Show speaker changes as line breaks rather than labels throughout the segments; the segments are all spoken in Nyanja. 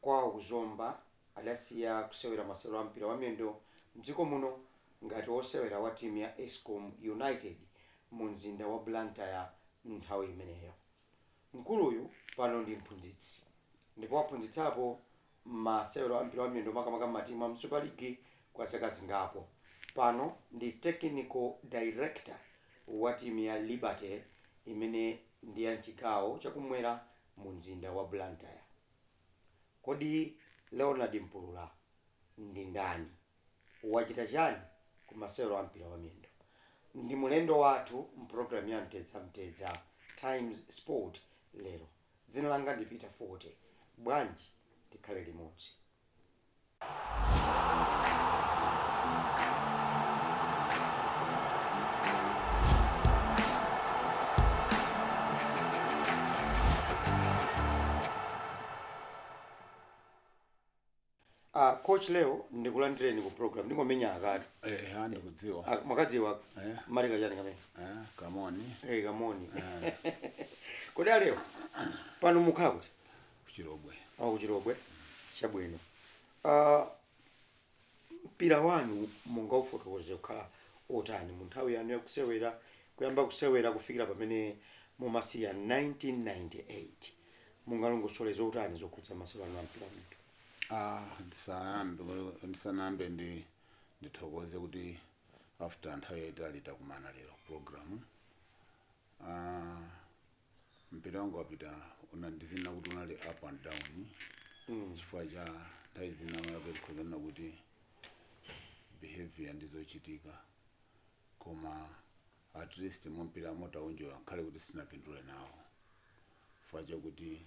kwawo kwa ku Zomba adasiya kusewera masewero a mpira wamiyendo m'dziko muno ngati wosewera wa timu ya Escom United mu mzinda wa Blantyre nthawi imeneyo. Mkuluyu pano ndi mphunzitsi ndipo waphunzitsapo masewero a mpira wamiyendo makamaka m'matimu a mu Supa ligi kwa zaka zingapo. Pano ndi Technical Director wa timu ya Liberty imene ndi ya m'chigawo chakumwera mu mzinda wa Blantyre. Kodi Leonard Mpulula ndi ndani? Wachita chani ku masewero a mpira wa miyendo? Ndi mulendo wathu m'program ya Mtedza Mtedza Times Sport lero. Dzina langa ndi Peter Fote. Bwanji tikhale limodzi? Ah, coach Leo ndikulandireni ku program ndingomenya akatu Eh, ha ndikudziwa.
Ah, mwakadziwa
Eh. mali kachani kamene Ah, kamoni.
eh kamoni
kodi a Leo pano mukhala kuti ku
Chilobwe Oh, ku
Chilobwe chabwino Ah, mpira wanu mungaufotokoze kukhala otani mu nthawi yanu yakusewera kuyamba kusewera kufikira pamene mumasiya 1998 mungalongosole zotani zokhudza masewero anu a mpira wa miyendo Ah,
ndisanayambe ndisanayambe ndi ndithokoze kuti after nthawi yaitali takumana lero program ah, Mpira wanga wa Peter una ndizinena kuti unali up and down chifukwa cha nthawi zina mwina kuti tikhoza kunena kuti behaviour ndi zochitika koma at least mu mpiramo tawunjoya ngakhale kuti sitinapindule nawo chifukwa chakuti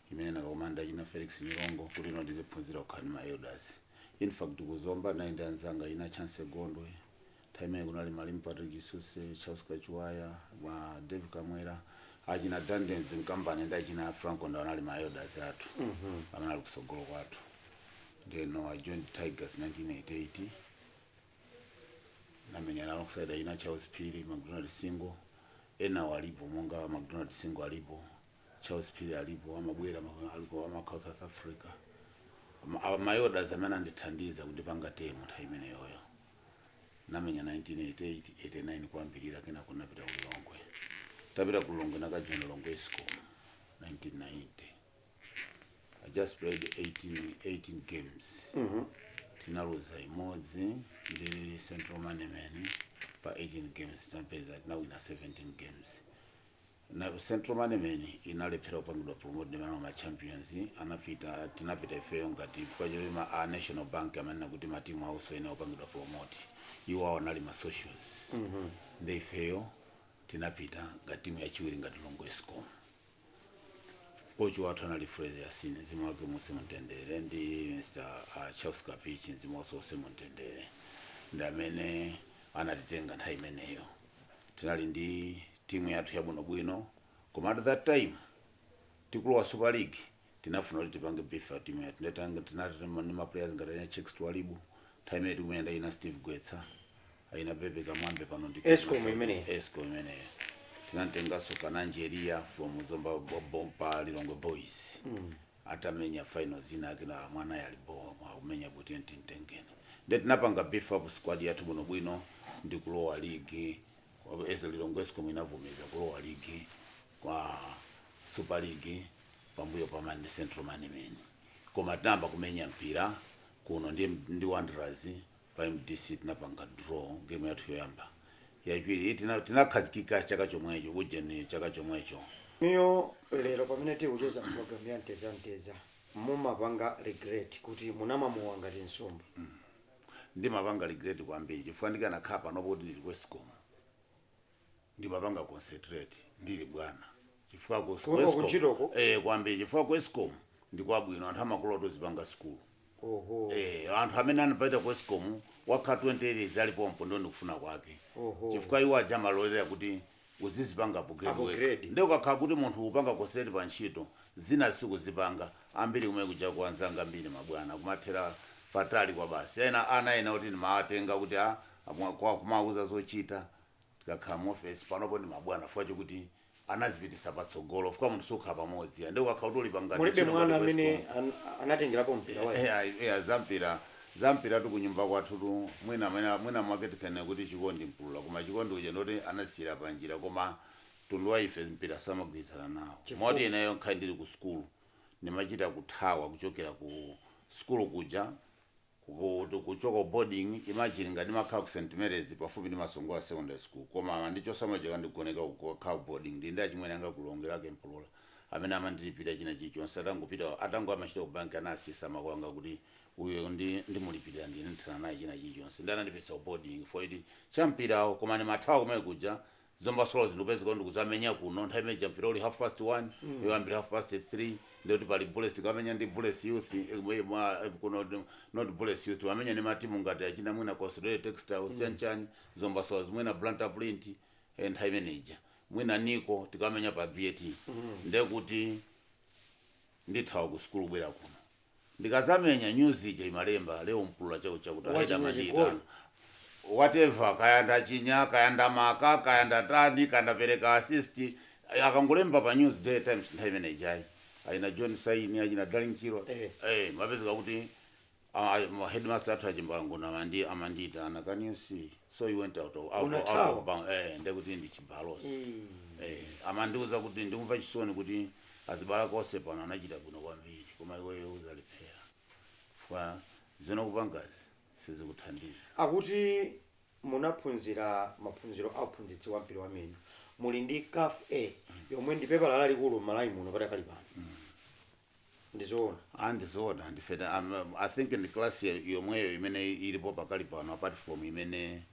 imene ndinakakumana nda achina Felix Nyirongo kuti no ndiziphunzira kukhala ndi ma elders. Infact ku Zomba tinali ndi anzanga achina Chancy Gondwe, nthawi imeneyo kunali Malemu Patrick Chisuse, Charles Kachiwaya, a Dave Kamwera, achina Dandens Mkambani ndi achina Franco Ndawa anali ma elders athu amene anali kusogolo kwathu. Then no, I joined Tigers 1988 namenyana alongside achina Charles Phiri, McDonald Singo, ena alipo monga McDonald Singo alipo, Charles Phiri alipo amabwera ma- aliko amakhala South Africa Ma- awa ma elders amene anandithandiza kundipanga tame nthawi imeneyoyo namenya 1988 89 kuyambirira kenako napita ku Lilongwe tapita ku Lilongwe nakajoina Lilongwe Escom 1990 I just played 18, 18 games tinaluza imodzi ndi Central Moneyman pa 18 games tinapezeka tinawina 17 games Na central manemen inalephera kupangidwa promote ndi ma ma champions anapita tinapita ifeyo ngati chifukwa choti ma a national bank amanena kuti matimu awo soyenera kupangidwa promote iwo awo anali ma socials nde ifeyo tinapita ngati timu yachiwiri ngati Lilongwe escom kochi wathu anali fraser yasini mzimu wake uuse mumtendere ndi mr uh, charles kapichi mzimu wake uuse mumtendere ndi amene anatitenga nthawi imeneyo tinali ndi timu yathu yabwino bwino koma at that time tikulowa super league tinafuna kuti tipange beef up timu yathu nde tinanga tinatenga ma players ngati anya chicks twalibu time yathu imene ija ana steve gwetsa ana bebe kamwambe pano ndi Escom imeneyo.
escom
imeneyo tinamtenganso kananjeria from zomba bo- boma pa lilongwe boys atamenya finals ina yake ina mwana yalibo akumenya kuti ndiye timutenge nde tinapanga beef up squad yathu bwinobwino ndikulowa ligi Komatu ESE Lilongwe Escom inavomereza kulowa ligi kwa Super League pambuyo pa Mande Central Manemeni. Koma tinayamba kumenya mpira kuno ndi, ndi Wanderers pa MDC tinapanga draw game yathu yoyamba. Yachiwiri tina- tinakhazikika chaka chomwecho ujeni chaka chomwecho.
Inuyo lero pamene tikucheza program ya mtedza mtedza mumapanga regret kuti munkamwa mowa ngati nsomba.
ndimapanga regret kwambiri chifukwa ndikanakhala panopa kuti ndili ku escom ndimapanga concentrate ndili bwana chifukwa ku Kuno ku escom ntchitoko? eh
kwambiri chifukwa
ku escom ndikwabwino anthu amakulola kuti uzipanga sukulu oho Eh, anthu amene anapita ku escom wakha 20 years ali pompo ndiye ndikufuna kwake Oho. chifukwa iwo
aja amalolera
kuti uzizipanga upgrade wekha Upgrade.
nde ukakhala kuti
munthu ukupanga concentrate pa ntchito zinazi sukuzipanga ambiri kumene kujaku anzanga ambiri mabwana kumathera patali kwabasi ena ana ena oti ndimawatenga kuti a amwa- kwa- kumawauza zochita tikakhala mu office panopo ndi mabwana chifukwa chokuti anazipititsa patsogolo chifukwa munthu sukhala pamodzi nde ukakhala kuti ulipa ngati mulibe ntchito ngati
mwana amene wa Escom, an- anatengerapo mpira wanu eya eya zampira
Za mpiratu kunyumba kwathutu mwina mwina mwina mwake tikanena kuti chikondi mpulula koma chikondi uja ndi woti anasiyira panjira koma mtundu wa ife mpira samagwirizana nawo Chifukwa? moti ineyo ngakhale ndili ku sukulu ndimachita kuthawa kuchokera ku sukulu kuja kukuti kuchoka ku boarding imagine ngati ndimakhala ku St Mary's pafupi ndi Masongola secondary school koma amandichotsa mmuja kukandigoneka uko kukakhala ku boarding ndili ndi achimwene anga a Kulongerake mpulula amene amandilipira china chilichonse atangopita atango amachita ku bank anasiyitsa makolo anga kuti uyo ndi ndimulipilira ndine ndithana naye china chilichonse ndi anandipititsa ku boarding chifukwa choti cha mpirawo koma ndimathawa kumene kuja zomba swallows ndikupezeka ndikuzamenya kuno nthawi imene ja mpira uli half past 1 mm. yoyambira half past 3 ndiye kuti pali bullets tikamenya ndi bullets youth eh, eh, mwa- eh, kuno ndi- not bullets youth wamenya ndi matimu ngati achina mwina consolidated textile mm. siyanchani zomba swallows mwina blantyre print eh, nthawi imene ija mwina nico tikamenya pa bat mm. ndekuti ndithawa ku sukulu bwera kuno ndikazamenya news ija imalemba leo mpulula chao chakuti aheda Wachinya amachita chigoli. whatever kaya ndachinya kaya ndamaka kaya ndatani kaya ndapereka assist akangolemba pa news daily times nthawi imene ijayi achina john saini achina garry chirwa Eh. eh mapezeka kuti ah, ma headmaster athu achimbalangona amandi amandiyitana can you see so you went out of, out, out Unathawa. of bound eh ndekuti ndi chibalosi eh amandiuza kuti ndikumva chisoni kuti Azibale ako onse pano anachita bwino kwambiri koma iweyo uzalephera chifukwa zimene ukupangazi sizikuthandiza. Akuti
munaphunzira maphunziro a uphunzitsi wa mpira wa miyendo. Muli ndi caf A yomwe ndi pepala lalikulu m'Malawi muno padakali pano. Ndi zoona? Ah ndi zoona
ndife ta, am, I think ndi class yomweyo imene ilipo pakali pano apart from imene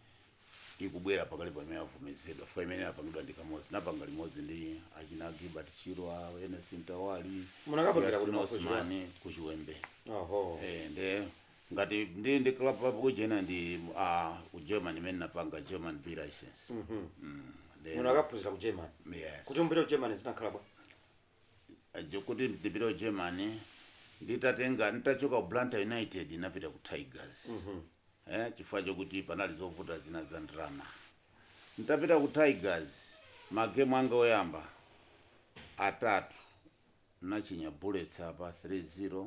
ikubwera pakali pano imene yavomezedwa chifukwa imene inapangidwa ndi kamodzi napanga limodzi ndi achina gilbert chirwa ernest mtawali Munakapangira kuti Yasin
maphunzirowa? osman ku
chiwembe oho Eh, nde ngati ndi ndi club pub kujeni ndi ah, ku german imene napanga german b license Mm, nde-
munakaphunzira ku german yes. kuti mupite ku german
zinakhala
bwa
kuti ndipite ku germany nditatenga nditachoka ku blantyre united ndinapita ku tigers eh, chifukwa chokuti panali zovuta zina za ndalama nditapita ku tigers magemu anga oyamba atatu nachinya bullets apa 3-0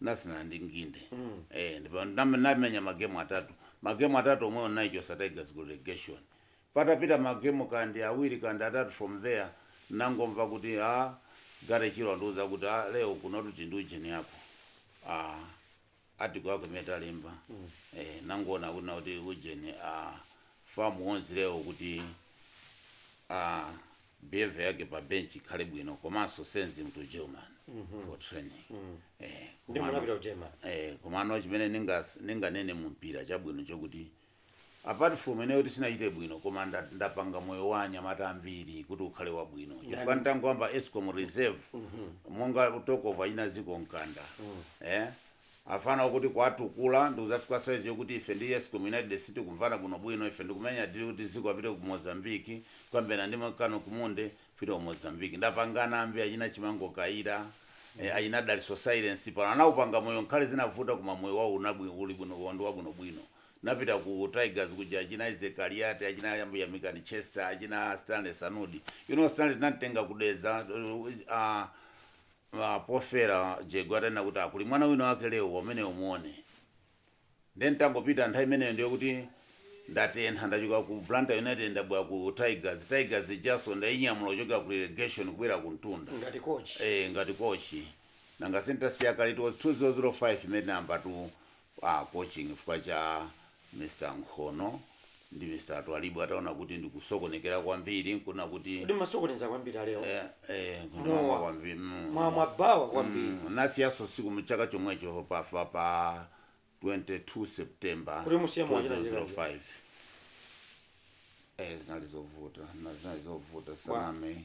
ndinasinthana ndi nginde eh ndipo ndam- ndamenya magemu atatu magemu atatu omwewo ndinayichosa tigers ku relegation patapita magemu kandi awiri kandi atatu from there ndangomva kuti a garry chirwa andiuza kuti a leo kunotu tili ndi ujeni yako a article yako imene talemba eh nangoona kuti na kuti ujeni a fam warns leo kuti aah behaviour yake pa bench ikhale bwino komanso sends him to German for training eh Ndi komano-
munapita ku German. eh komano chimene
ningas- ninganene mu mpira chabwino chokuti apart from ineyo kuti sinachite bwino koma nda- ndapanga moyo wa anyamata ambiri kuti ukhale wabwino chifukwa nditangoyamba escom reserve monga tokova achina zicco mkanda eh Afana akuti kuwatukula ndikuzafika size yokuti ife ndi Escom United sitikumvana bwino bwino, ife ndikumenya deal kuti ziko apite ku Mozambique kukambirana ndi Kano Kumonde kupita ku Mozambique ndapangana ambi achina Chimango Kayira, achina Dalitso Sailesi pano anaupanga moyo ngakhale zinavuta koma moyo wawo uli bwino pano ndi wabwino bwino napita ku Tigers kuja achina Isaac Kaliati, achina Yamikani Chester, achina Stanley Sanudi, you know Stanley tinamtenga ku Dedza uh, a Pofera Jegwe atanena kuti ah kuli mwana wina wake Leo ameneyo umuone nde nditangopita nthawi imeneyo ndiye kuti ndatentha ndachoka ku Blantyre United ndabwera ku Tigers, Tigers ijanso ndainyamula kuchokera ku relegation kubwera ku mtunda ngati coach. eh ngati coach nanga nditasiya kale it was 2005 imene tinayambatu coaching chifukwa cha Mr Nkhono ndi Mr Twalibu ataona kuti ndikusokonekera kwambiri nkunena kuti Kodi mumasokonekera kwambiri
a Leo. eh, eh, Mowa. kumamwa
kwambiri mm, Mowa wa mabawa
kwambiri. mm, ndinasiyanso tsiku
mchaka chomwecho pa, pa, pa 22 September Kuti musiye mowa china china. 2005 eh, zinali zovuta nde zinali zovuta saname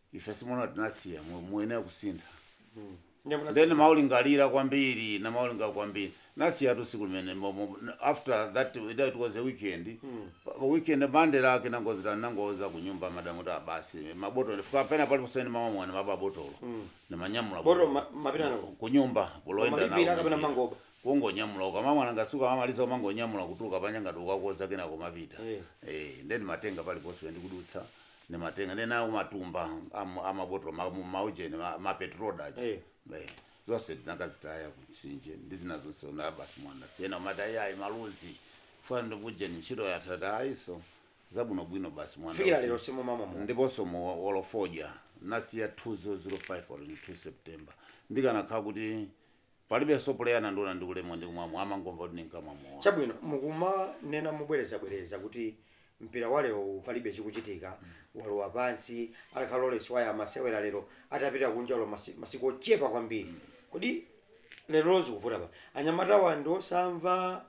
ife simukuona tinasiya mu- muyenera kusintha Ndiye munasi- then ndimaulingalira kwambiri ndimaulingalira kwambiri ndinasiyatu tsiku limene mo- mo- after that it it was a weekend Pa- pa weekend monday lake ndinangodzuka ndinangouza kunyumba madamu ta basi mabotolo ndikafika pena paliponse ndimamwa mowa ndimaba botolo ndimanyamula Botolo ma- mapita
nalo. kunyumba kulowa
nalo Mumalipira kapena mumangoba.
kungonyamula
ukamamwa mowa ngati sukumamaliza umangonyamula kutuluka panja ngati ukakodza kenako kumapita Eh. eh then ndimatenga paliponse ndikudutsa ndimatenga ndiye ndinawo matumba am- amabotolo ma- mu- maujeni ma- mapetrol aja Eh. Eh, zonse tinakazitaya kumtsinje ndi zina zonse nde basi mowa ndinasiya ndimati ayi ayi maluzi ndikufuna ndiujeni ntchito yatata ayiso zabwinobwino basi mowa kufikira usi- lero simumamwa
mowa ndiponso
mowa olo fodya ndinasiya 2005 pa 22 september ndikanakhala kuti Palibenso puleya anandiona ndikumwa ndikumwa mowa amangomva kuti ndinkamwa mowa.
Chabwino mukumanena mobwerezabwereza kuti mpira wa lero uwu palibe chikuchitika, walowa pansi, atakhala Lawrence Waya amasewera lero atapita kunja olo masiku ochepa kwambiri, kodi lerolo zikuvuta pati? Anyamatawa ndiosamva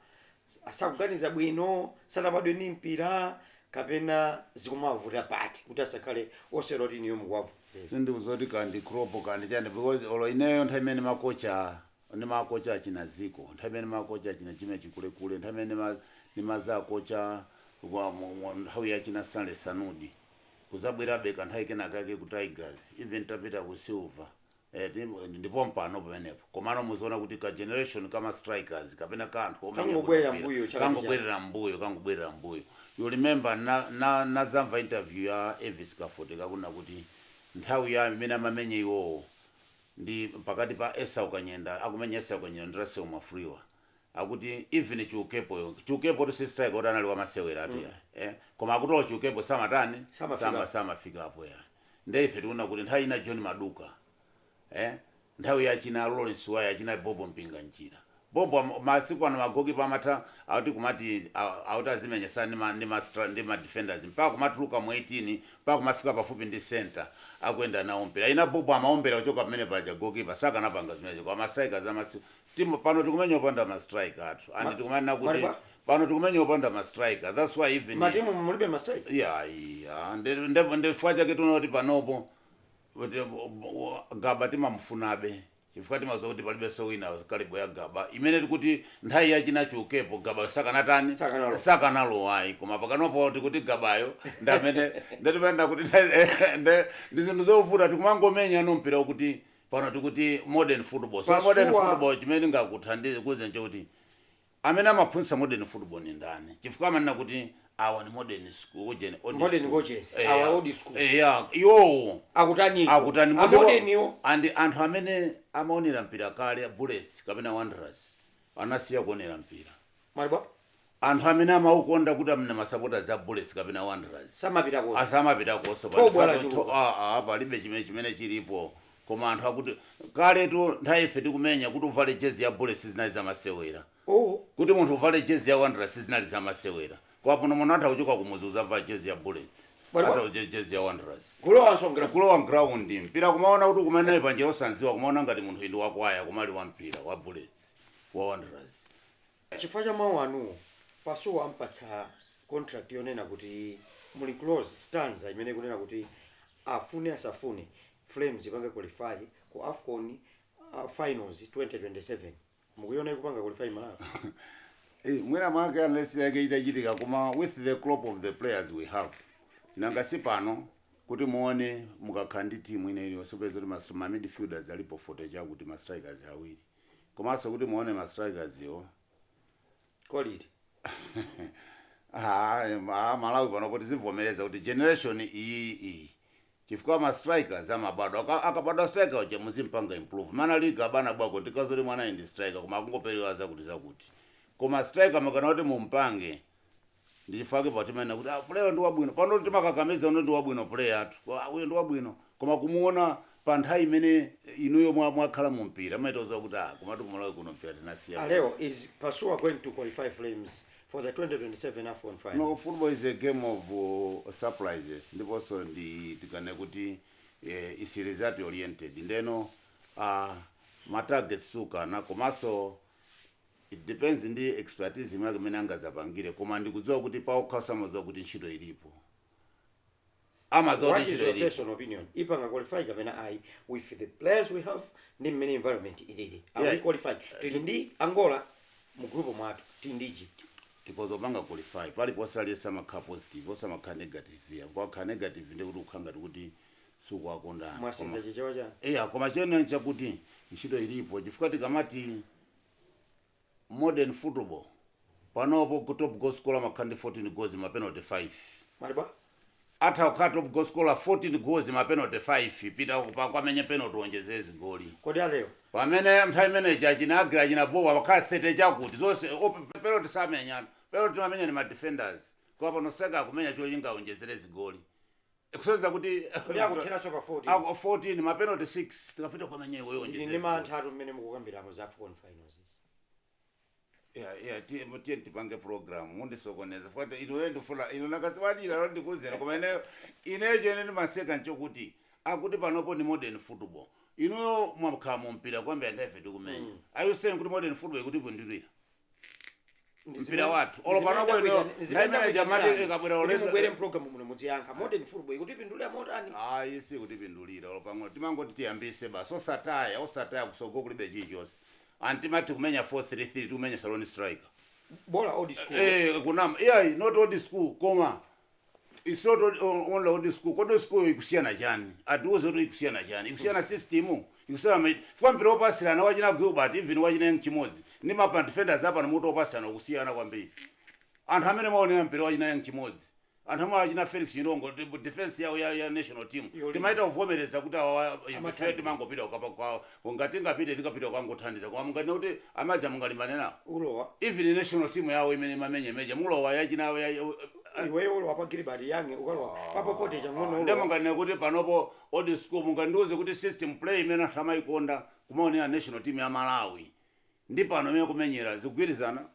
sakuganiza bwino, sanabadwe ndi mpira kapena zikumawavuta pati kuti asakhale osewera oti inuyo mukuwavomereza? Sindikudziwa kuti kaya
ndi crop kaya ndi chani because olo ineyo nthawi imene ndimakocha ndimakocha achina Zico, nthawi imene ndimakocha achina Jimmy Chikulekule, nthawi imene ndima ndimazakocha kwa mu mu nthawi ya achina Stanley Sanudi, kuzabwerabe kanthawi kenakake ku Tigers even titapita ku Silver. Eti ndi pompano pamenepo komano muziwona kuti ka generation ka ma strikers kapena ka anthu omenya bwino Kangobwerera mpira m'mbuyo chaka ndi chaka. kangobwerera m'mbuyo kangobwerera m'mbuyo you remember na, na, nazamva interview ya Elvis Kafoteka kunena kuti nthawi yawo imene amamenya iwowo ndi pakati pa Esau Kanyenda akumenya Esau Kanyenda ndi Russell Mwafulirwa akuti even chiukepo yo chiukepo ndi striker oti sanali wamasewera atu ya eh koma akuti olo chiukepo samatani Samafika. sama samafika apo ya nde ife tinaona kuti nthawi ina John Maduka eh nthawi ya china Lawrence Waya china Bobo Mpinganjira Bobo am- masiku ano magokipa amatha akuti kumati a- akuti azimenyesana ndi ma ndi ma stra- ndi ma defenders mpaka kumatuluka mu 18 mpaka kumafika pafupi ndi center akuyenda nawo mpira china Bobo amaombera kuchoka pamene paja gokipa sakanapanga zimenezo koma strikers a masiku Timu pano tikumenya opanda ma striker athu and Ma- tikunena kuti Maliba? pano tikumenya opanda ma striker that's why even matimu mulibe
mastrai yeah yeah nde
nde nde chifukwa chake tiona kuti panopo kuti gaba timamufunabe chifukwa timaziwa kuti palibe so wina caliber ya gaba imene tikuti nthawi yachina chiukepo gaba sakanatani Sakanalo. sakanalowa ayi koma pakanopo tikuti gabayo ndi amene nde timaenda kuti nthawi- nde ndi zinthu zovuta tikumangomenyano mpira kuti pano tikuti modern football so modern football chimene ndingakuthandize ukuuze nchakuti amene amaphunzitsa modern football ni ndani chifukwa amanena kuti awa ni modern school ujeni old Modern school. coaches,
Eh, awa old school. eh, yeah,
iwowo akutani akutani a
modern-iwo and anthu
amene amaonera mpira kale bullets kapena wanderers anasiya kuonera mpira malibwa
Anthu
amene amaukonda kuti amene ma supporters a Bullets kapena Wanderers Samapita konse.
samapitakonso Thobwa
lachuluka. aa palibe chimene chimene chilipo koma anthu akuti kaletu nthawi ife tikumenya kuti uvale jersey ya Bullets sizinali zamasewera Oho. kuti munthu uvale jersey ya Wanderers sizinali zamasewera koma pano munthu atha kuchoka kumudzi kuzavala jersey ya Bullets Bwana- atha kuvala jersey ya Wanderers Kulowanso m'ground. kulowa m'ground mpira kumaona kuti kumene panja osanziwa kumaona ngati munthu ndi wakwaya koma ali wa mpira wa Bullets wa Wanderers Chifukwa
cha mau anuwo, Pasuwa ampatsa contract yonena kuti muli clause, sitanza imene ikunena kuti afune asafune Flames ipange qualify ku afcon finals 2027. Mukuiona ikupanga qualify Malawi?
Eee mwina mwake unless yake zitachitika koma with the crop of the players we have nanga si pano kuti muone mukakhala ndi team ina iliyonse upeza kuti ma midfielders alipo 40 chakuti ma strikers awiri. komanso kuti muone ma strikers wo quality. Ah, em, ah, malawi panopo tizivomereza kuti generation iyi iyi chifukwa ma strikers amabadwa Aka- akabadwa striker uja muzimpanga improve mwana league abwana bwako ndi kadziwa zoti mwana ndi striker koma akungoperewera zakuti zakuti koma striker mukafuna kuti mumpange Ndi chifukwa chake timanena kuti ah player ndi wabwino. Pano timakakamiza kuti ndi wabwino player athu. Kuti ah uyo ndi wabwino. Koma kumuona pa nthawi imene inuyo mwa mwakhala mu mpira mumachita kudziwa kuti ah komatu ku Malawi kuno mpira tinasiya A Leo, basi. is Pasuwa
going to qualify Flames for the 2027 AFCON final? No, football is a
game of uh, surprises ndiponso nditikane kuti eh, is result oriented ndiyeno uh, ma targets sukana komanso It depends ndi expertise imake mene angadzapangire koma ndikudziwa kuti paokha amadziwa kuti ntchito ilipo. Amadziwa
kuti What is ntchito your ilipo. personal opinion? Ipanga qualify kapena ayi with the players we have ndi mmene environment ilili. Are we Yeah. qualified? Tili ndi Angola mu group mwathu, tili ndi Egypt. Tikoza
kupanga qualify paliponse aliyense amakhala positive osamakhala negative ya kukhala negative ndekuti ukhala ngati kuti sukuwakonda Mwasintha chichewa chanu.
eya koma chena
chakuti ntchito ilipo chifukwa tikamati modern football panopo top goal scorer amakhala ndi 14 goals ma penalty 5. Mwati
bwanji? Atha kukhala
top goal scorer 14 goals ma penalty 5 pita ukamenye penalty uonjezere zigoli. Kodi A Leo?
Pamene nthawi
imene ija achina Aggrey achina Bowa amakhala 30 chakuti zonse penalty samenyatu. Penalty imamenya ndi ma defenders. Koma pano striker akumenya cholinga aonjezere zigoli. ikusonyeza kuti Kuti akuthiranso ka
14. Ako- 14
mapenalty 6 pita ukamenye iwe Ili ndi yonje mantha atu
mmene mukukambiramo za AFCON finals. izi. yeah yeah tiye
tiye tipange program mundisokoneza chifukwa inuyo ndifuna ino nakasiwalira lo ndikuzera koma ineyo chimene ndimaseka nchokuti akuti panopo ndi modern football inuyo mwakhala mu mpira kuyambira ndife tikumenya are you saying kuti modern football ikutipindulira mpira wathu olo pang'ono ndimene timati ikabwera mubwere ulendo mpulogalamu muno
muziyankha modern football ikutipindulira motani ayi sikutipindulira
olo pang'ono timangoti tiyambise basi osataya osataya kutsogolo kulibe chilichonse ati timati kumenya 433 tikumenya lone striker bola old
school eh kunama iyayi not
old school koma It's not on- on- only old school kodi school ikusiyana chani atiuze kuti ikusiyana chani ikusiyana system ikusiyana ma- chifukwa mpira opasirana wa achina Gilbert even wa achina Young Chimodzi ndi ma defenders apano mmene akupasirana ukusiyana kwambiri anthu amene amaonera mpira wa achina Young Chimodzi anthu amene wa achina Felix Nyirongo ndi defense yawo ya, ya national team Yolimba. timachita kuvomereza kuti awa Amathandiza. ife timangopita kukapa kwawo Ku ngati tingapite tikapita kukangothandiza koma munganene kuti a major mungalimbane nawo? Mulowa.
Even national team
yawo imene imamenya major mulowa ya achina ya a. Iweyo
ulowa pa Gilbert Young ukalowa pa Pope Chang'ono Nde ulowa. munganene kuti
panopo old school mungandiuze kuti system play imene anthu amaikonda kumaonera national team ya Malawi ndi pano imene kumenyera zikugwirizana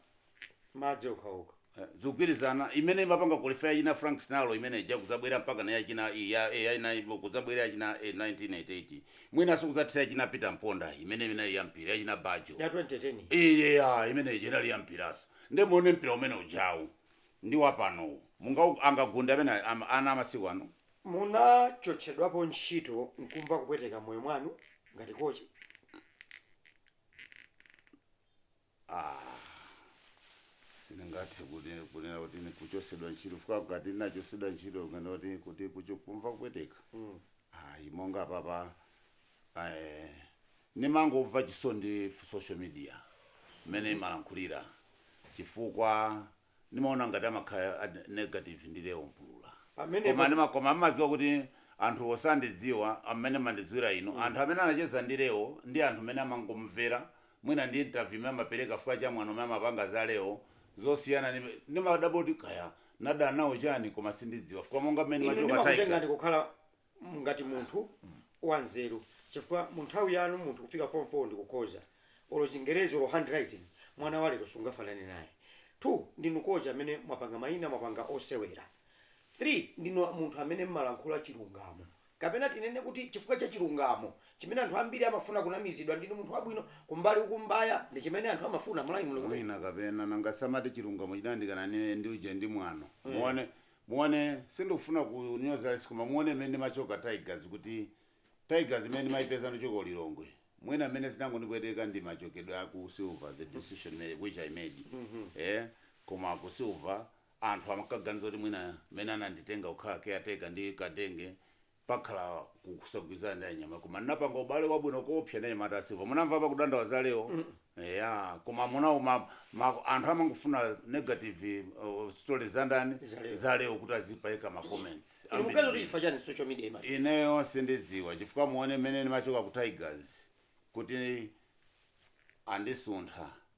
madzi okhaokha eh,
zikugwirizana imene imapanga qualify yachina frank sinalo imene ija kuzabwera mpaka na yachina i- ya eh, yachina ipo, kuzabwera yachina eh, 1988 mwinanso kuzathira yachina peter mponda imene imene ya mpira yachina bajo ya
2010 iya imene ija inali
ya mpiraso nde muone mpira umene ujawu ndi wapanowu munga angagunge amene ama- ana amasiku ano munachotsedwapo
ntchito nkumva kupweteka moyo mwanu ngati kochi
Aaa sindingathe kuti kunena kuti ndi kuchosedwa ntchito chifukwa ngati ndinachosedwa ntchito kunena kuti kuti kucho kumva kupweteka ayi monga apapa eh, ndimangomva chisoni ndi social media mmene imalankhulira chifukwa ndimaona ngati amakhala negative ndi Leo Mpulula Pamenepo- koma ndima- koma amadziwa kuti anthu osandidziwa amene mandidziwira inu anthu amene anacheza ndi Leo ndi anthu amene amangomvera mwina ndi interview imene amapereka chifukwa cha mwano umene amapanga za Leo zosiyana ndi- ndimadabwa kuti kaya nadana nawo chani koma sindidziwa chifukwa monga mmene inu machoka Tigers ndimakutengani kukhala
mm, ngati munthu wanzeru chifukwa mu nthawi yanu munthu kufika form 4 ndi kukhoza olo chingerezi olo handwriting mwana wa lero sungafanane naye two ndinu kocha amene mwapanga mayina mwapanga osewera three ndinu munthu amene mmalankhula chilungamo kapena tinene kuti chifukwa cha chilungamo chimene anthu ambiri amafuna kunamizidwa ndinu munthu wabwino kumbali ukumbaya ndi chimene anthu amafuna Malawi mulungu mwina kapena
nangasamati chilungamo chinandikana ndi uje ndi mwano muone Muone sindikufuna kunyoza aliyense koma muone mmene ndimachoka Tigers kuti Tigers imene ndimaipeza ndikuchoka ku Lilongwe mwina mmene zinangondipweteka ndi machokedwe a ku Silver the decision imene which I made eeh koma ku Silver anthu amkaganiza kuti mwina mmene ananditenga kukhala caretaker ndi Kadenge pakhala ku- kusagwirizana ndi anyamata koma ndinapanga ubale wabwino koopsa ndi anyamata a silver munamva pa kudandaula za leo eya koma munawo ma, ma, anthu amangofuna negative uh, stories za ndani Za Leo. za leo kuti azipaika ma comments Inu mukaziwa kuti chifukwa
chani social media ima ineyo
sindidziwa chifukwa muone mmene ndimachoka ku tigers kuti andisuntha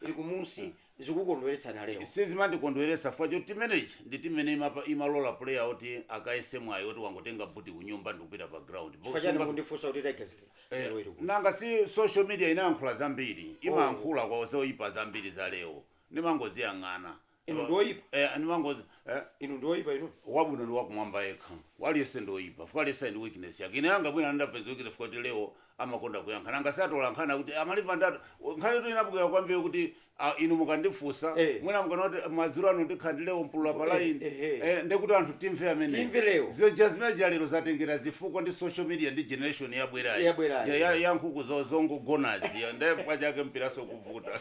ili kumusi zikukondweletsani a Leo? Sizimandikondweletsa
chifukwa choti tima manager ndi team imene imapa, imalola player oti akayese mwayi oti wangotenga boot kunyumba ndikupita pa ground ndipo Chifukwa chani sunga mukundifunsa
kuti Tigers lero Eh, lero ili kuti? nanga
si social media inayankhula zambiri imayankhula zoyipa zambiri za leo ndimangoziyang'ana inu ndi
oyipa eh, ndi wangozi
eh, inu ndi
oyipa inu wabwino ndi
wakumwamba yekha aliyese ndi oyipa chifukwa aliyese ali ndi weakness yake ine yanga mwina anapeza weakness chifukwa kuti leo amakonda kuyankha nanga satola nkhani akuti amalipa ndatu nkhani tu inabukira kwambiri kuti ah, inu mukandifunsa Eh. mwina mukanati madzulo ano ndikhala ndi leo mpulula pa Eh, line eh, eh. eh, ndekuti anthu timve amene Timve leo. zija zimeja lero zatengera zifukwa ndi social media ndi generation yabwerayi Yabwerayi. Ya- ya- ya nkhuku zo- zongogonazi nde chake mpiraso kuvuta
kuvuta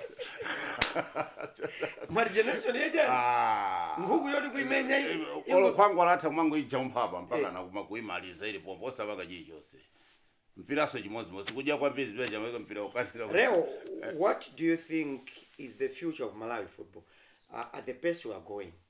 mwati generation ija Ah. nkhuku yoti kuimenya i- i- olo khwangu alatha
kumango ijompha apa mpaka nakuma kuimaliza ili pompo osapaka chilichonse mpiranso chimodzimodzi kudya kwambiri zimene chamaweka mpira ukanika
Leo, what do you think is the future of Malawi football uh, at the pace we are going?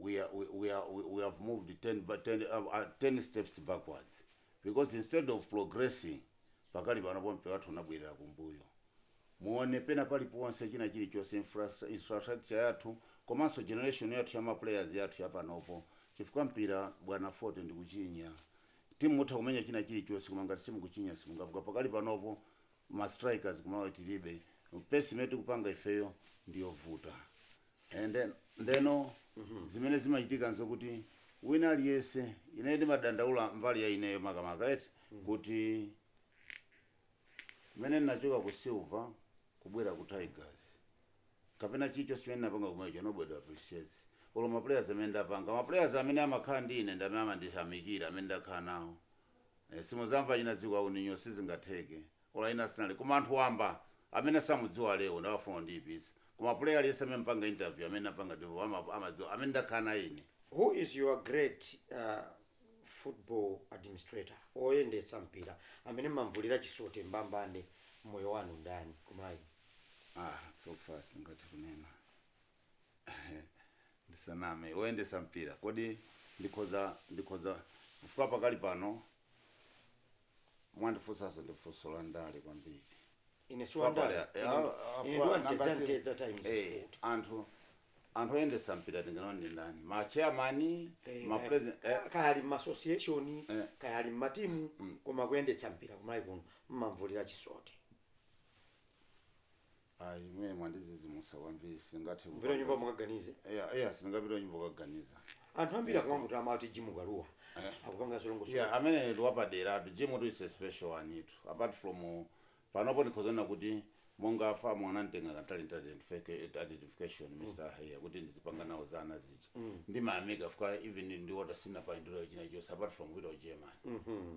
we are, we, we are, we, we have moved 10, ba- 10, uh, uh, 10 steps backwards because instead of progressing pakali panopo mpira wathu unabwerera kumbuyo muone pena paliponse china chilichonse infras- infrastructure yathu komanso generation yathu ya maplayers yathu yapanopo chifukwa mpira bwana fote ndikuchinya timu mutha kumenya china chilichonse koma ngati simukuchinya simungaphule pakali panopo ma strikers kumalawi tilibe pace imene tikupanga ifeyo ndiyovuta and then ndeno zimene zimachitika nzokuti wina aliyense ine ndimadandaula mbali ya ineyo makamaka eti kuti mmene ndinachoka ku silver kubwera ku tigers kapena chilichonse chimene ndinapanga kumeneko nobody appreciates olo maplayers amene ndapanga maplayers amene amakhala ndi ine ndi amene amandiyamikira amene ndakhala nawo eh, simudzamva wina dziko lino sizingatheke olo wina sinali koma anthu wamba amene samudziwa Leo nde amafuna kundiyipitsa koma player aliyense amene mpanga interview amene napanga ndiwo ama- amadziwa amene ndakhala naye ine who is
your great uh, football administrator oyendetsa mpira amene mumamvulira chisote mbambande mmoyo wanu ndani kumalawi ah
so far sindingathe kunena ndisaname oyendetsa mpira kodi ndikhoza ndikhoza chifukwa pakali pano mwandifunsaso ndi funso la ndale kwambiri ine si Chifukwa
wandale pali- ine ah, ah, ine ndi chifukwa wantedza nangasi- ntedza
times eh, sport anthu anthu oyendetsa mpira tinganene ndi ndani ma chairman Eh, ma kaya- president eh, kaya ali m'massociation
Eh. kaya ali m'matimu koma kuyendetsa mpira kumalawi kuno mumamvulira chisote
Ayi, imeneyo mwandidzidzimutsa kwambiri sindingathe Mupite kunyumba kupanga.
mukaganize. Eya, eya sindingapite
kunyumba kukaganiza. Anthu ambiri
akumamutama amati Jim Kalua akupanga zolongosoka. Yeah, ameneyo ndi
wapaderatu. Jim tu is a special one tu. Apart from panopo ndikhoza kunena kuti monga a FAM ananditenga ngati talent identi- identification Mr. Haiya kuti ndizipanga nawo za ana zija. ndimayamika chifukwa even ndi Walter sinapangepo china chilichonse apart from kupita ku german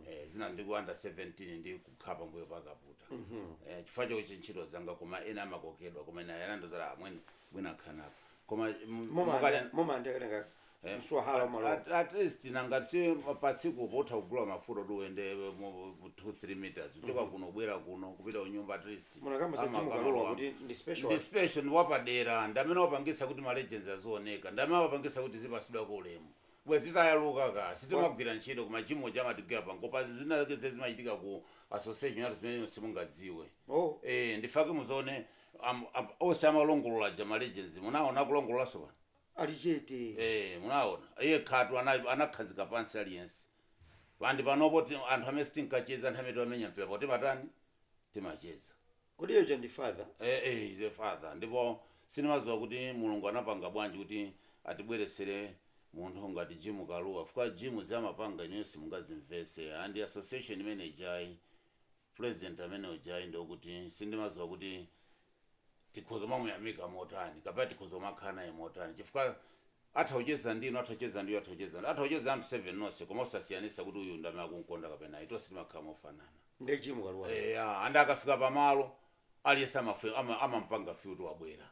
eh, zina ndi ku under 17 ndikukhala pambuyo pa Kaputa eh, chifukwa chochi ntchito zanga koma ena amakokedwa koma ena yanandozala amwene bwina akhanapa koma mm,
mukale- mumandikatenga Eh, mswahala at- umalowa at- at least
nanga si patsiku pomatha kugula mafuta kuti uende mu- mu 2-3 meters kuchoka kuno kubwera kuno kupita kunyumba at least munakamba za Jim Kalua
kuti ndi special ndi special
ndi wapadera ndi amene wapangitsa kuti ma legends azioneka ndi amene wapangitsa kuti tizipatsidwako ulemu bwezi tayaluka ka sitimagwira ntchito koma Jim uja amatigwira pangopa zina zake zimene zimachitika ku association yathu zimene simungadziwe oh eh ndifake muzone am- am- onse amalongolola aja ma legends munaona kulongololanso pano ali
chete. Eee munaona
yekhatu ana anakhazika pansi aliyense and panopo ti- anthu amene sitinkacheza nthawi imene timamenya mpira pano timatani timacheza Kodi uja ndi
father? eh, eh, he's a
father ndipo sindimadziwa kuti mulungu anapanga bwanji kuti atibweretsere munthu ngati jim kalua chifukwa jim zamapanga inuyo simungazimvese and association manager ayi President amene uja ndekuti sindimaziwa kuti tikhoza kumamuyamika motani kapena tikhoza kumakhala naye motani chifukwa atha kucheza ndinu atha kucheza ndi uyu atha kucheza ndi atha kucheza ndi anthu 7 nonse koma osasiyanisa kuti uyu ndamene akunkonda kapena ayi tonse timakhala mofanana Nde Jim Kalua.
eya and akafika
pamalo aliyese amafuna ama, amampanga feel kuti wabwera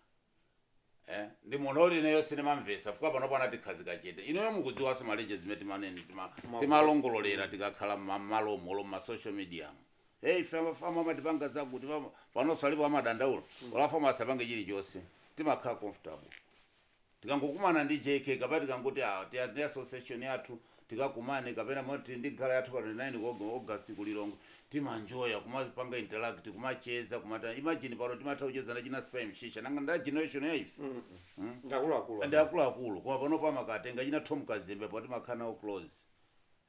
eh ndi munthu oti ineyo sindimamvetsa chifukwa panopo anatikhazika chete ineyo mukudziwanso maleje zimene timanene tima- timalongololera tikakhala mmalomo olo mma social media mo hey ife a FAM amatipanga zakuti pam- panonso alipo amadandaula olo a FAM asapange chilichonse timakhala comfortable tikangokumana ndi jk kapena tikangoti ah, tiya- tiya association yathu tikakumane kapena moti tili ndi gala yathu pa 29 August ku Lilongwe timanjoya kumapanga interact kumacheza kumatani imagine pano timatha kucheza ndi achina Spy Msiska nanga ndi a generation ya ife mm? ndi akuluakulu ndi akuluakulu koma panopo amakatenga achina Tom Kazembe poti timakhala nawo close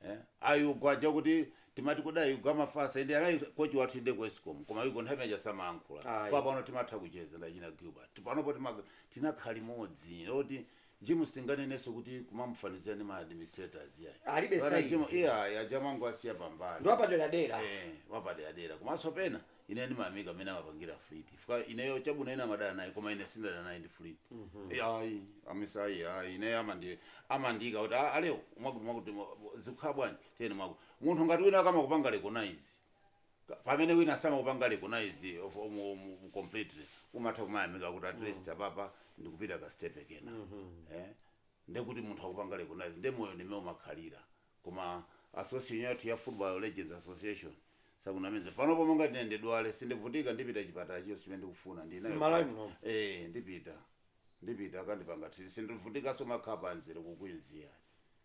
eh? a Young aja kuti timati kodi a Young amafatsa and anali kochi wathu inde ku escom koma a Young nthawi imene ija samayankhula Ayi. koma pano timatha kucheza ndi achina gilbert panopo tima- tinakhala limodzi moti Jim sitinganenenso kuti kumamufanizira ndi ma administrators iyayi. Alibe Bwana
Jim saizi. iyayi aja
amangowasiya pambali. Ndi wapaderadera.
Eh, wapaderadera.
Komanso pena ine ndimayamika mmene amapangira Fleet. Chifukwa ineyo chabwino ena amadana naye koma ine sindidana naye ndi Fleet. Iyayi, amisa iyayi ine amandi amandiika kuti "Ah, a Leo mwakuti mwakuti mwa- zikukhala bwanji? Tiyeni mwakuti. Munthu ngati wina akamakupanga recognize Ka- pamene wina samakupanga recognize of um, um, completely umatha kumayamika kuti at least apapa ndikupita ka step kena eh ndekuti munthu akupanga recognize nde moyo ndi mmene umakhalira koma association yathu ya football legends association osakunamiza panopo monga ngati ine ndidwale sindivutika ndipita chipatala chonse chimene ndikufuna ineyo M'Malawi muno. eh ndipita ndipita akandipanga treat sindivutikanso kumakhala pamzere ku Queens iya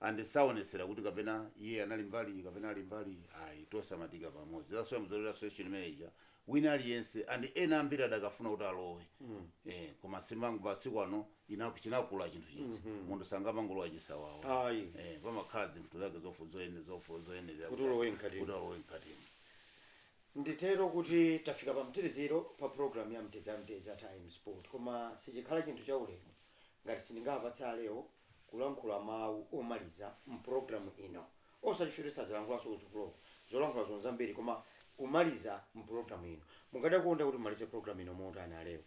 and saonetsera kuti kapena iye anali mbali iyi kapena ali mbali iyi ayi tonse amadyika pamodzi that's why muzaona association imene ija wina aliyense and ena ambiri adakafuna kuti alowe eh koma si mwangu pa masiku ano chinakula chinthu chija munthu sangamangolowa chisawawa Ayi. eh pamakhala zinthu zake zofu zoyene zofu zoyenera Kuti ulowe
mkatimo. kuti ulowe mkatimo nditero kuti tafika pa mtsiriziro pa programu ya mtedza mtedza time sport koma sichikhala chinthu cha ulemu ngati sindingawapatse a Leo kulankhula mawu omaliza mpulogalamu ino. Osati choti sadzalankhulanso kutsogoloku, zolankhulazo nzambiri, koma kumaliza mpulogalamu ino. Mukadakonda kuti timalize pulogalamu ino motani, a Leo?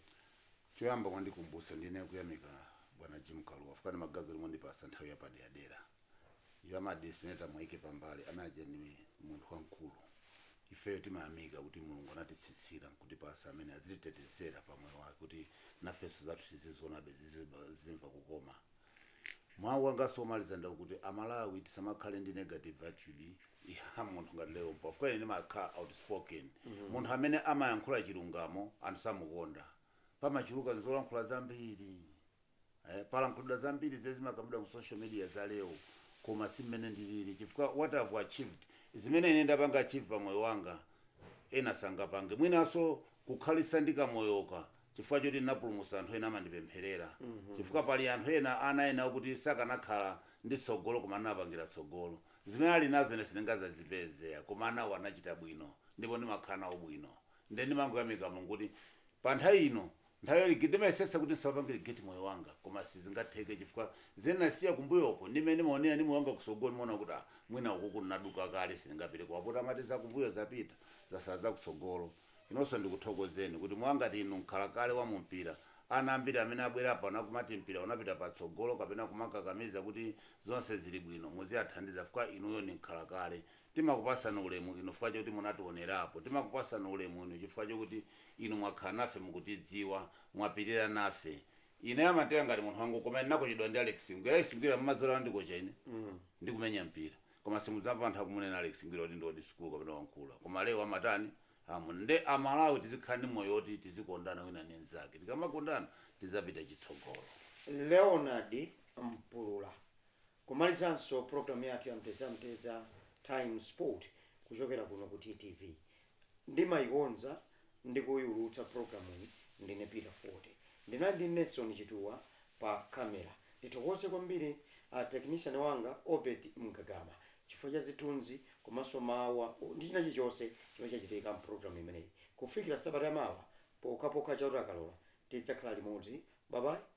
Choyamba mwandikumbutsa ndiyenera kuyamika bwana Jim Kalua fukwa ndimaganiza kuti mwandipatsa nthawi yapaderadera. Za ma disciplinary tamwaike pambali, amene aja ndi munthu wamkulu. Ifeyo timayamika kuti Mulungu anatitsitsira nkutipasa amene azititetezera pa moyo wake kuti nafenso zathuzi zizionabe zizimva kukoma. Mau anganso omaliza ndi okuti a Malawi tisamakhale ndi negative attitude ya munthu ngati Leo Mpulula fukwa ine ndimakhala outspoken munthu amene amayankhula chilungamo anthu samukonda pamachuluka nzolankhula zambiri. Eh, palankhulidwa zambiri zimene zimakambidwa mu social media za Leo koma si mmene ndilili chifukwa what I've achieved zimene ine ndapanga achieve pa moyo wanga ena sangapange mwinanso kukhalitsa ndi kamoyoka chifukwa choti ndinapulumutsa anthu ena amandipempherera chifukwa pali anthu ena ana ena okuti sakanakhala ndi tsogolo koma ndinawapangira tsogolo zimene ali nazo ine sindingazazipeze ya koma anawo anachita bwino ndipo ndimakhala nawo bwino nde ndimangoyamika Mulungu kuti pa nthawi ino Nthawi ino ndimayesetsa kuti ndisamapange regret moyo wanga koma sizingatheke chifukwa zimene ndinasiya kumbuyo uko ndi mmene ndimaonera ndi moyo wanga kusogolo ndimaona kuti ah mwina ukuko ndinaduka kale sindingapite koma poti amati zakumbuyo zapita zatsala zakutsogolo inunso ndikuthokozeni kuti mwa ngati inu mkhalakale wa mumpira ana ambiri amene abwera pano akumati mpira unapita patsogolo kapena kumakakamiza kuti zonse zili bwino muziathandiza fukwa inuyo ndi mkhalakale Timakupasani ulemu inu fukwa choti munationerapo. Timakupasani ulemu inu chifukwa chokuti inu mwakhala nafe mukutidziwa, mwapilira nafe. Ineyo amanditenga ngati munthu wa ngoo koma ine ndinakochedwa ndi Alex Ngwira. Alex Ngwira mumadziwa kuti anandikocha ine ndi kumenya mpira. Koma simudzamva anthu akumunena Alex Ngwira kuti ndi old school kapena wamkulu. Koma Leo amatani? Amuna. Nde a Malawi tizikhala ndi moyo woti tizikondana wina ndi mzake. Tikamakondana tizapita chitsogolo. Leonard
Mpulula. Kumalizanso program yathu ya mtedza mtedza time sport kuchokera kuno ku TTV ndimaikonza ndi kuiulutsa programuyi ndine Peter Fote ndinali ndi Nelson Chituwa pa camera ndithokoze kwambiri a technician wanga Obed Mgagama chifukwa cha zithunzi komanso mawu ndi china chilichonse chomwe chachitika mprogram imeneyi kufikira sabata ya mawa pokhapokha Chauta akalola tidzakhala limodzi bye bye